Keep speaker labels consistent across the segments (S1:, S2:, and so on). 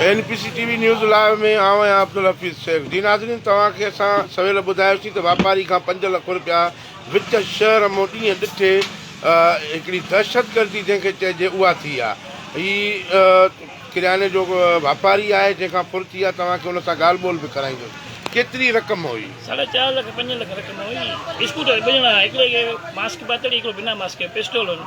S1: N P C TV news live ۾ آئون آهيان عبدالحفيظ شيخ جي ناظرين توهان کي اسان سويل ٻڌايوسين ته واپاري کان پنج لک رپيا وچ شهر مون ڏينهن ڏٺي هڪڙي دهشتگردي جنهن کي چئجي اها ٿي آهي هي ڪرياني جو واپاري آهي جنهن کان ڦر ٿي آهي توهان کي ان سان ڳالهه ٻولهه به ڪرائيندس ڪيتري رقم هئي ساڍا چار لک پنج لک رقم هئي اسڪوٽر ٻه ڄڻا هڪڙي کي ماسڪ
S2: پاتل هڪڙو بنا ماسڪ پسٽول هن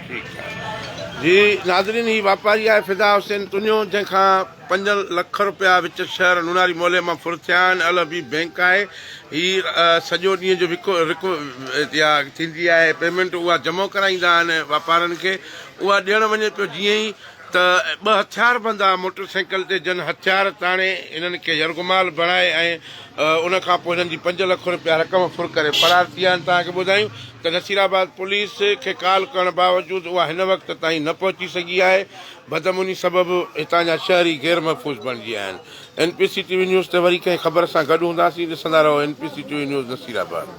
S2: ٺيڪ
S1: ٺاڪ جي ناظرين هي واپاري آهي فدا حسين تنيو جنهن کان پنج لک رپيا وچ شهر لوناري مولي مان ڦر ٿيا آهن ال حبيب بينڪ آهي هي سڄو ڏينهن جو وڪو رڪو يا ٿيندي آهي پيمنٽ اها جمع ڪرائيندا آهن واپارن کي اها ڏيڻ وڃي پيو جيئن ئي ته ٻه هٿياربند آ موٽر سائيڪل تي جن هٿيار تاڻي هنن کي يرغمال بڻائي ۽ ان کان پوء هنن جي پنج لک رپيا رقم ڦر ڪري فرار ٿي ويا آهن توهان کي ٻڌايون ته نصيرآباد پوليس کي ڪال ڪرڻ باوجود اها هن وقت تائين نه پهچي سگهي آهي بدامني سبب هتان جا شهري غير محفوظ بڻجي ويا آهن N P C TV news تي وري ڪنهن خبر سان گڏ هونداسين ڏسندا رهو N P C TV news Nasirabad.